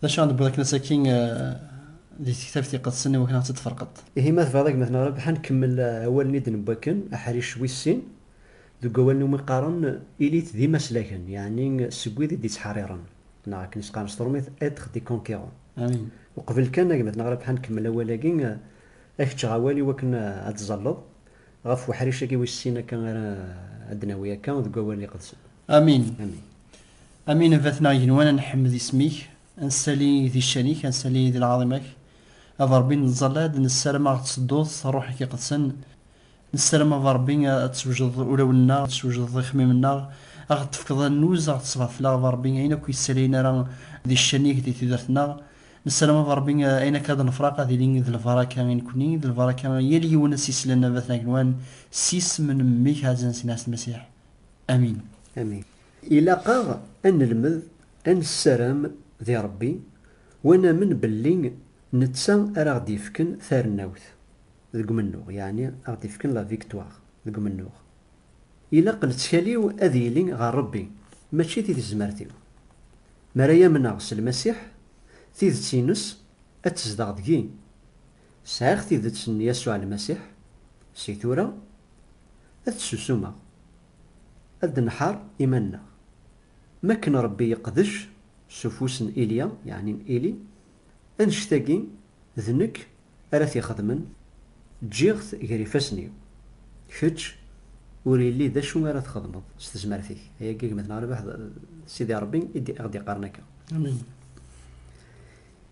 D acu ɣ-d-tewwiḍ akken asaki di tektabt iqedsen iwakken ad ɣ-tt-id-tferqeḍ? Ihi ma tebɣiḍ a gma-tneɣ Rabeḥ ad nkemmel awalen i d-newwi akken, aḥric wis sin, deg wawalen iwumi qqaren ilit d imaslaken, yeɛni seg wid i d-ittḥerriren, neɣ akken i s-qqaren s teṛumit être des conquérants. Uqbel kan a gma-tneɣ Rabeḥ ad nkemmel awal-agi, a k-ččeɣ awal iwakken ad d-tzalleḍ ɣef weḥric-agi wis sin akka ara d-nawi akka deg wawalen iqedsen. Amin. Amin a bat-neɣ igenwan a nḥemmed isem-ik, a nsali di ccan-ik, a nsali di lɛaḍima-k, a Beṛbi n lẓalad, nessaram a ɣ-d-tsedduḍ s Ṛṛuḥ-ik Iqedsen, nessaram a Beṛbi a d-teswejdeḍ ulawen-nneɣ, a d-teswejdeḍ ixemmimen-nneɣ, a ɣ-d-tefkeḍ annuz, a ɣ-d-tesbeɛd-fell-aɣ a Beṛbi ayen akk yessalayen ara di ccan-ik di tudert-nneɣ, nessaram a Beṛbi ayen akka ad nefṛaq ad yili d lbaṛaka i nekkni, d lbaṛaka i yal yiwen a s-yeslan a bat-neɣ igenwan, s yisem n Mmi-k Ɛezzen Sina Ɛessen Masiḥ. Amin. Amin. Ilaq-aɣ ad nelmed ad nessaram di Ṛebbi u ad namen belli netta ara aɣ-d-yefken tarennawt deg umennuɣ, yeɛni ad aɣ-d-yefken la victoire deg umennuɣ. Ilaq lettkal-iw ad yili ɣer Ṛebbi, mačči di tezmert-iw. Mi ara amneɣ s Lmasiḥ, tidet-ines ad tezdeɣ deg-i. Sɛiɣ tidet n Yasuɛ Lmasiḥ, si tura ad t-susumeɣ, ad d-nḥeṛṛ iman-nneɣ. M akken Ṛebbi yeqdec s ufus n Ilya, yeɛni n Ili, annect-agi d nekk ara t-ixedmen, ǧǧiɣ-t ger ifassen-iw. Kečč ur illi d acu ara txedmeḍ s tezmert-ik. Ayagi gma-tneɣ Rabeḥ d Sidi Ṛebbi i ɣ-d-iqqaren akka. Amen.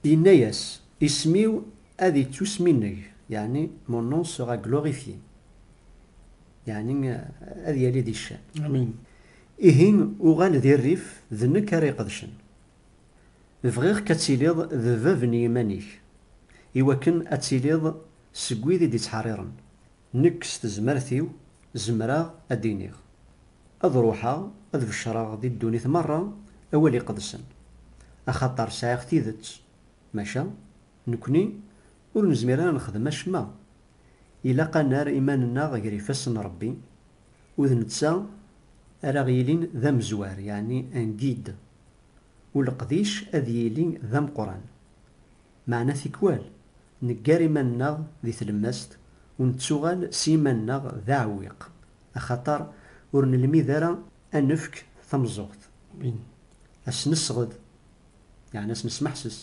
Yenna-yas, Isem-iw ad ittusminneg, yeɛni Mon nom sera glorifié, yeɛni ad yali di ccan. Amin. Ihi uɣal di rrif, d nekk ara iqedcen. Bɣiɣ-k ad tiliḍ d bab n yiman-ik, iwakken ad tiliḍ seg wid i d-ittḥeṛṛiṛen, Nekk s tezmert-iw zemreɣ ad d-iniɣ, ad ruḥeɣ ad beccreɣ di ddunit merra awal iqedsen, axaṭer sɛiɣ tidet, maca nekkni ur nezmir ara ad nexdem acemma, ilaq ad nerr iman-nneɣ ger ifassen n Rebbi, u d netta ara aɣ-yilin d amezwar, yeɛni un guide, u leqdic ad yili d ameqqran. Meɛna tikwal, neggar iman-nneɣ di tlemmast u nettuɣal s yiman-nneɣ d aɛewwiq, axaṭer ur nelmid ara a nefk tameẓẓuɣt, a s-nesɣed, yeɛni a s-nesmeḥses,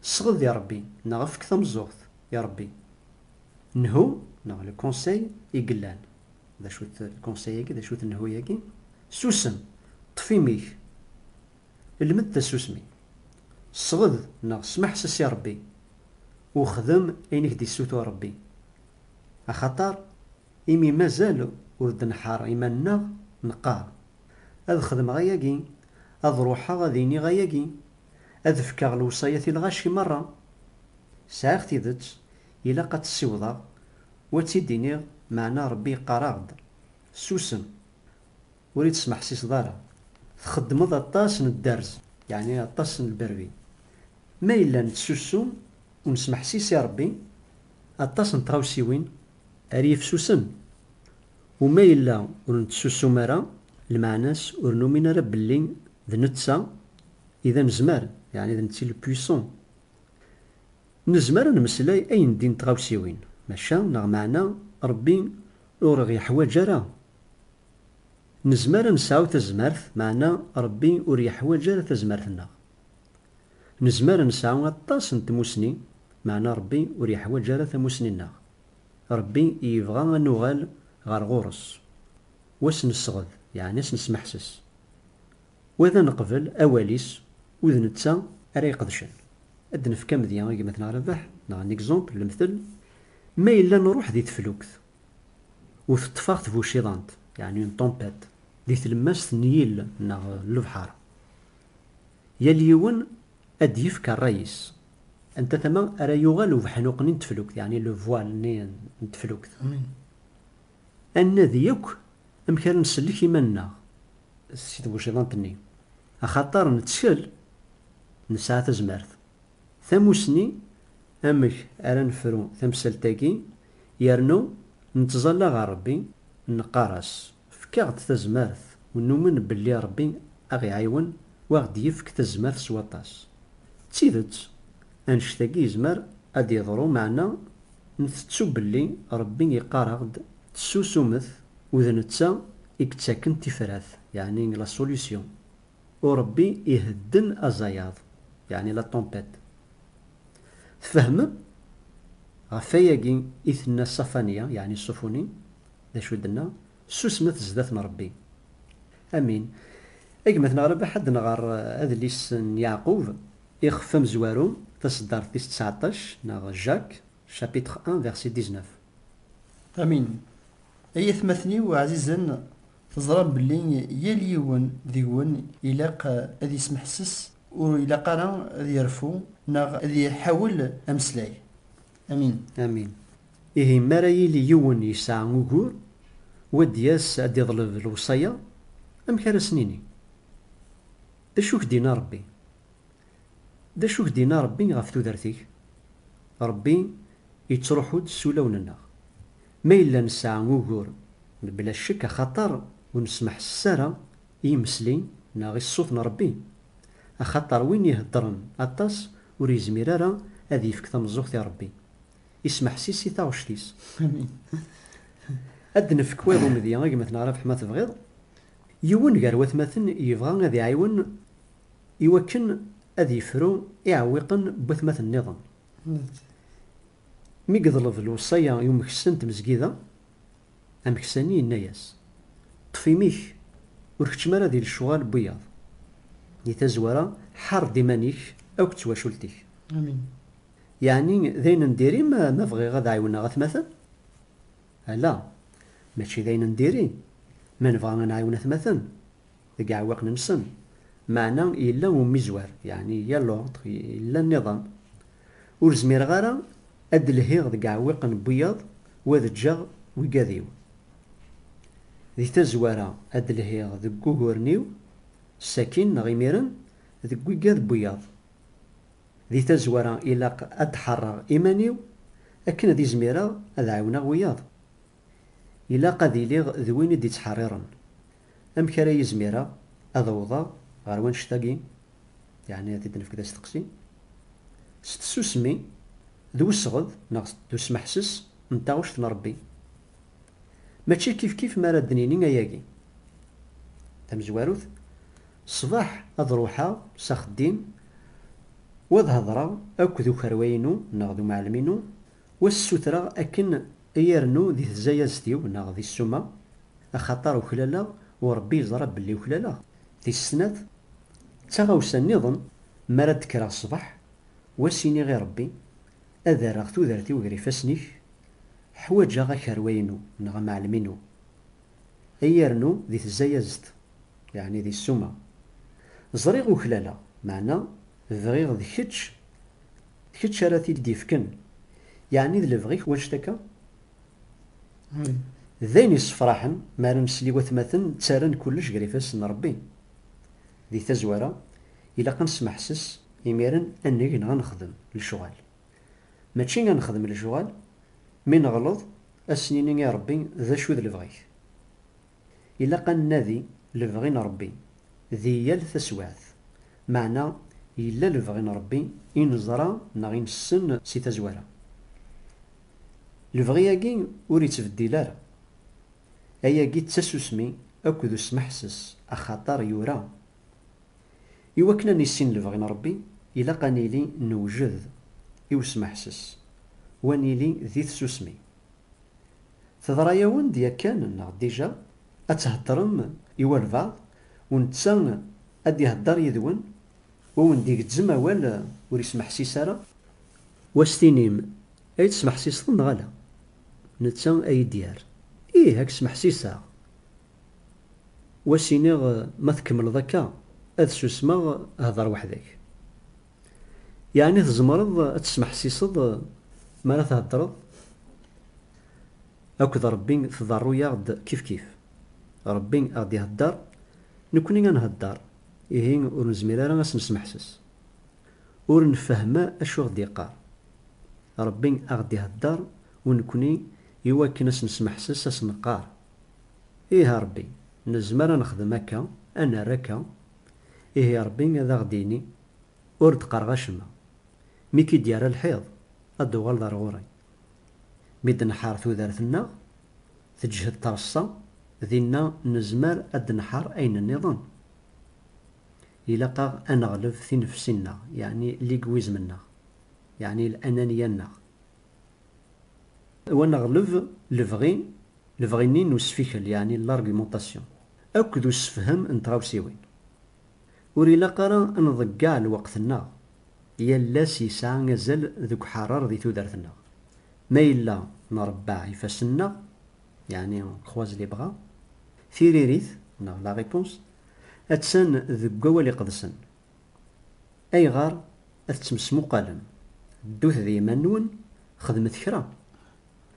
Sɣed i Rebbi neɣ efk tameẓẓuɣt i Rebbi. Nhu neɣ le conseil i yellan, d acu-t le conseil-agi, d acu-t nhu-yagi? Susem, ṭṭef imi-k! lmed tasusmi, sɣed neɣ smeḥses i Ṛebbi, u xdem ayen i k-d-issutur Ṛebbi. Axaṭer imi mazal ur d-nḥeṛṛ iman-nneɣ, neqqaṛ, Ad xedmeɣ ayagi, ad ṛuḥeɣ ad iniɣ ayagi, ad fkeɣ lewṣayat i lɣaci meṛṛa. Sɛiɣ tidet, ilaq ad tt-ssiwḍeɣ u ad tt-id-iniɣ, meɛna Ṛebbi yeqqaṛ-aɣ-d, Susem! Ur yi-tesmeḥsiseḍ ara. Txeddmeḍ aṭas n dderz, yeɛni aṭas n lberbi. Ma yella nettsussu u nesmeḥsis i Rebbi, aṭas n tɣawsiwin ara yifsusen. U ma yella ur nettsusum ara, lmeɛna-s ur numin ara belli d netta i d anezmar, yeɛni d netta le puissant. Nezmer a nmeslay ayendin tɣawsiwin, maca neɣ meɛna Rebbi ur ɣ-yeḥwaǧ ara Nezmer ad nesɛu tazmert, meɛna Ṛebbi ur yeḥwaǧ ara tazmert-nneɣ. Nezmer ad nesɛu aṭas n tmussni, meɛna Ṛebbi ur yeḥwaǧ ara tamussni-nneɣ. Ṛebbi yebɣa ad nuɣal ɣer ɣur-s, u ad s-nesɣed, yeɛni ad s-nesmeḥses, u ad neqbel awal-is, u d netta ara iqedcen. Ad d-nefk amedya i gma-tneɣ Rabeḥ, neɣ un exemple, lemtel, Ma yella nṛuḥ di teflukt, U teṭṭef-aɣ tbuciḍant, yeɛni une tempête, di tlemmast n yill neɣ n lebḥar. Yal yiwen ad d-yefk rray-is, anta tama ara yuɣal ubeḥnuq-nni n teflukt, yeɛni le voile-nni n teflukt. Ad nnadi akk amek ara nsellek iman-nneɣ si tbuciḍant-nni, axaṭer nettkel, nesɛa tazmert. Tamussni, amek ara nefru tamsalt-agi Yernu nettẓalla ɣer Rebbi, neqqar-as, Efk-aɣ-d tazmert, u numen belli Rebbi a ɣ-iɛiwen u a ɣ-d-yefk tazmert s waṭas. D tidet, annect-agi yezmer a d-yeḍru meɛna ntettu belli Rebbi iqqar-aɣ-d, Tessusumet, u d netta i yettaken tifrat, yeɛni la solution. Urebbi ihedden azayaḍ, yeɛni la tempête. Tfehmem? Ɣef wayagi i tenna Safania, yeɛni Sufuni, d acu i d-tenna? Susmet zdat n Rebbi. Amin. A gma-t neɣ Rabaḥ ad nɣer adlis n Yeɛqub, ixef amezwaru, taseddart tis ţɛeṭṭac, neɣ Jacques, chapitre un, verset dix-neuf. Amin. Ay atmaten-iw ɛzizen. Teẓram belli yal yiwen deg-wen ilaq ad yesmeḥses, ur ilaq ara ad yerfu neɣ ad iḥawel ameslay. Amin. Amin. Ihi mi ara yili yiwen yesɛa ugur, u ad d-yas ad d-iḍleb lewṣaya, amek ara as-nini? D acu i k-d-yenna Ṛebbi? D acu i k-d-yenna Ṛebbi ɣef tudert-ik? Ṛebbi yettṛuḥu-d s ulawen-nneɣ. Ma yella nesɛa ugur, mebla ccek axaṭer ur nesmeḥses ara i yimesli neɣ i ṣṣut n Ṛebbi. Axaṭer win iheddṛen aṭas ur yezmir ara ad yefk tameẓẓuɣt i Ṛebbi, ismeḥsis i taɣect-is. Ad d-nefk wayeḍ umedya i gma-tneɣ Rabeḥ ma tebɣiḍ. Yiwen gar watmaten yebɣa ad iɛiwen i wakken ad yefru iɛewwiqen n watmaten-nniḍen. Mi yeḍleb lewṣaya i umeksa n tmezgida, ameksani yenna-as, Ṭṭef imi-k, ur keččem ara di lecɣal n wiyaḍ. Di tazwara, ḥareb-d iman-ik akk d twacult-ik. Amin. Yeɛni d ayen n diri-m ma bɣiɣ ad ɛiwneɣ atmaten? Ala, mačči d ayen n diri ma nebɣa ad nɛiwen atmaten. deg yiɛewwiqen-nsen, meɛna yella umizwer, yeɛni il y a l'ordre, yella nniḍen. Ur zmireɣ ara ad d-lhiɣ deg yiɛewwiqen n wiyaḍ u ad ǧǧeɣ wigad-iw. Di tazwara, ad d-lhiɣ deg wuguren-iw sakkin neɣ imiren deg wigad n wiyaḍ. Di tazwara, ilaq ad d-ḥerreɣ iman-iw akken ad izmireɣ ad ɛiwneɣ wiyaḍ. Ilaq ad iliɣ d win i d-ittḥerriren, Amek ara izmireɣ ad awḍeɣ ɣer wannect-agi? Yeɛni ad t-id-nefk d asteqsi. S tsusmi, d wesɣed neɣ d usmeḥses n taɣect n Rebbi. Mačči kifkif mi ara d-nini ayagi. Tamezwarut, ṣṣbeḥ ad ruḥeɣ s axeddim u ad hedreɣ akk d ukerwa-inu neɣ d umɛellem-inu Wa ssutreɣ akken i yernu di tzayazt-iw neɣ di ssuma, axaṭer uklaleɣ u Rebbi yeẓra belli uklaleɣ. Tis snat, d taɣawsa nniḍen, mi ara d-kkreɣ ṣṣbeḥ, u as-iniɣ i Rebbi, Ad rreɣ tudert-iw ger ifassen-ik, ḥwaǧeɣ akerwa-inu neɣ amɛellem-inu. I yernu di tzayazt, yeɛni di ssuma. Ẓriɣ uklaleɣ, meɛna bɣiɣ d kečč D kečč ara t-id-ifken? Yeɛni d lebɣi-k wanect akka? Ih. D ayen yessefraḥen mi ara nesel i watmaten ttarran kullec gar ifassen n Rebbi. Di tazwara, ilaq ad nesmeḥses imiren ad neg neɣ ad nexdem lecɣal. Mačči ad nexdem lecɣal, mi neɣleḍ, ad s-nini i Rebbi, D acu i d lebɣi-k? Ilaq ad nnadi lebɣi n Ṛebbi di yal taswiɛt. Meɛna yella lebɣi n Ṛebbi i neẓra neɣ i nessen si tazwara. Lebɣi-agi ur ittbeddil ara. Ayagi d tasusmi akked usmeḥses axaṭer yura, Iwakken ad nissin lebɣi n Ṛebbi, ilaq ad nili newjed i usmeḥses, u ad nili di tsusmi. Teḍra-yawen-d yakan neɣ dija ad theddrem i walbeɛḍ u netta ad d-ihedder yid-wen u awen-d-igezzem awal ur yesmeḥsis ara? Wa s tinim ay tesmeḥsiseḍ neɣ ala? Netta a yi-d-yerr, Ih, a k-smeḥsiseɣ! Wa s iniɣ, Ma tkemmleḍ akka, ad susmeɣ, hder weḥd-k. Yeɛni tzemreḍ ad tesmeḥsiseḍ mi ara theddreḍ akked Ṛebbi, tḍerru-aɣ-d kifkif. Ṛebbi a ɣ-d-iheddeṛ, nekkni a nheddeṛ, ihi ur nezmir ara a s-nesmeḥses. Ur nfehhem acu i ɣ-d-yeqqar. Ṛebbi a ɣ-d-iheddeṛ u nekkni i wakken a s-nesmeḥses a s-neqqar, Ih a Ṛebbi, nezmer a nexdem akka, a nerr akka, Ihi Ṛebbi ad aɣ-d-yini, Ur d-qqareɣ acemma. Mi k-id-yerra lḥiḍ, ad d-tuɣaleḍ ar ɣur-i. Mi d-nḥar tudert-nneɣ, teǧhed treṣṣa, dinna nezmer ad d-nḥar ayen nniḍen. Ilaq-aɣ ad neɣleb tinefsi-nneɣ, yeɛni ligwizm-nneɣ, yeɛni lananiya-nneɣ. U ad neɣleb lebɣi, lebɣi-nni n usfikel, yeɛni l'argumentation, akked ussefhem n tɣawsiwin. Ur ilaq ara ad nḍeggeɛ lweqt-nneɣ, yal ass yesɛa azal deg uḥeṛṛeṛ di tudert-nneɣ. Ma yella nṛebbeɛ ifassen-nneɣ, yeɛni on croise les bras, tiririt, neɣ la réponse, attan deg Wawal Iqedsen, Ayɣer ad tettmesmuqalem? Ddut d yiman-nwen, xedmet kra!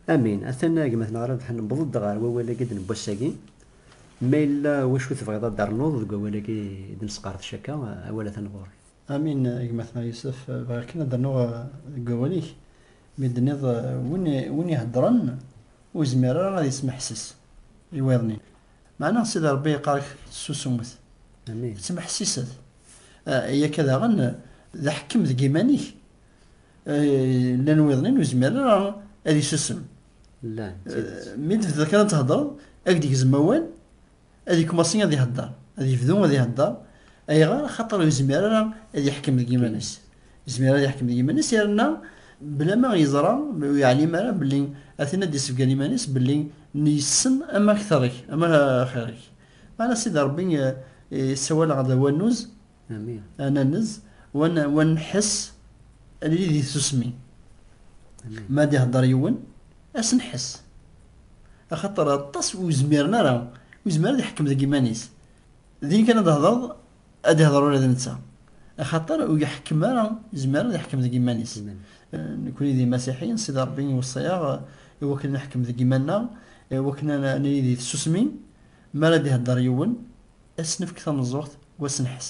Amin. Atan a gma-tneɣ Rabeḥ, newweḍ-d ɣer wawal-agi n wass-agi. Ma yella wacu tebɣiḍ ad d-ternuḍ deg wawal-agi i d-nesqerdec akka, awal atan ɣur-k. Amin. A gma-tneɣ Yusef, bɣiɣ kan ad d-rnuɣ deg wawal-ik, mi d-tenniḍ win iheddṛen ur yezmir ara ad yesmeḥses i wayeḍ-nni. Meɛna Sidi Ṛebbi iqqar-ak ssusumet, ttmeḥsiset, yakka daɣen d aḥekkem deg yiman-ik, llan wiḍen-in ur izmir ara ad isusem, mi d-tebdiḍ kan ad theddreḍ ad k-d-igzem awal, ad ikmaṣi ad ihedder, ad yebdu ad ihedder, ayɣer? Axaṭer ur izmir ara ad iḥkem deg yiman-is. Izmir ad iḥkem deg yiman-is yerna bla ma yeẓra ur yeɛlim ara belli a tin ad d-isebgan iman-is belli yessen ama kter-ik ama axir-ik. Meɛna Sidi Rebbi yessawal-aɣ-d a wannuz, a nanez, wa nḥess ad nili di tsusmi. Mi ara d-ihedder yiwen ad s-nḥess. Axaṭer aṭas ur zmiren ara, ur yezmir ara ad iḥkem deg yiman-is. Din kan ad d-tehdeṛ Ad ihḍeṛ ula d netta. Axaṭer ur iḥekkem ara, izmer ad iḥkem deg yiman-is. Nekkni d imasiḥiyen, Sidi Ṛebbi iweṣṣi-aɣ i wakken ad neḥkem deg yiman-nneɣ, i wakken ad nili di tsusmi, mi ara d-iheddeṛ yiwen, ad s-nefk tameẓẓuɣt n wasenḥes.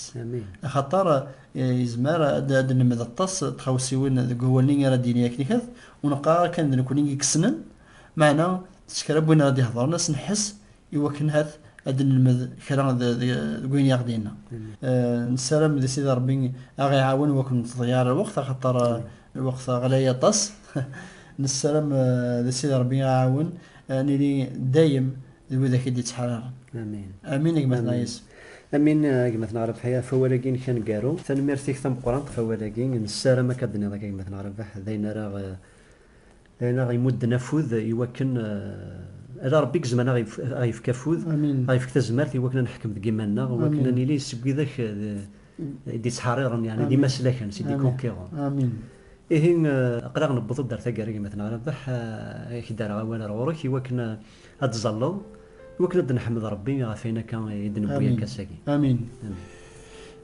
Axaṭer izmer ad d-nelmed aṭas n tɣawsiwin deg wawal-nni ara d-yini akken ikat, ur neqqar ara kan d nekkni i yessnen, meɛna s kra n win ara d-ihedṛen asenḥes i wakken hat ad d-nelmed kra deg wayen i aɣ-d-yenna. Nessaram di Sidi Ṛebbi a ɣ-iɛawen wakken ur neḍḍeya ara lweqt axaṭer lweqt ɣlay aṭas. Nessaram di Sidi Ṛebbi a ɣ-iɛawen a nili dayem d widak i d-ittḥararen. Amin. Amin a gma-tneɣ Yis. Amin a gma-tneɣ Ṛebḥi ɣef wawal-agi-inek aneggaru. Tanemmirt-ik tameqqrant ɣef wawal-agi. Nessaram akka d-nniḍ akka gma-tneɣ Ṛebḥ d ayen ara D ayen aɣ imudden afud i wakken, ala Rebbi i yezmren aɣ yefk afud, aɣ yefk tazmert i wakken a neḥkem deg yiman-nneɣ, i wakken a nili seg widak i d-ittḥerriren, yeɛni d imaslaken, c'est des conquérants. Ihi, aql-aɣ newweḍ-d ar taggara, gma-tneɣ Rabeḥ, a k-d-rreɣ awal ar ɣur-k i wakken ad d-ẓalleḍ, i wakken ad d-neḥmed Rebbi ɣef wayen akka i d-newwi akka sagi. Amin.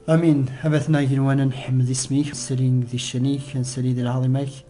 Amin. Abatnaɣ igenwan, a nḥemmed isem-ik, a nsali di ccan-ik, a nsali di lɛaḍima-k.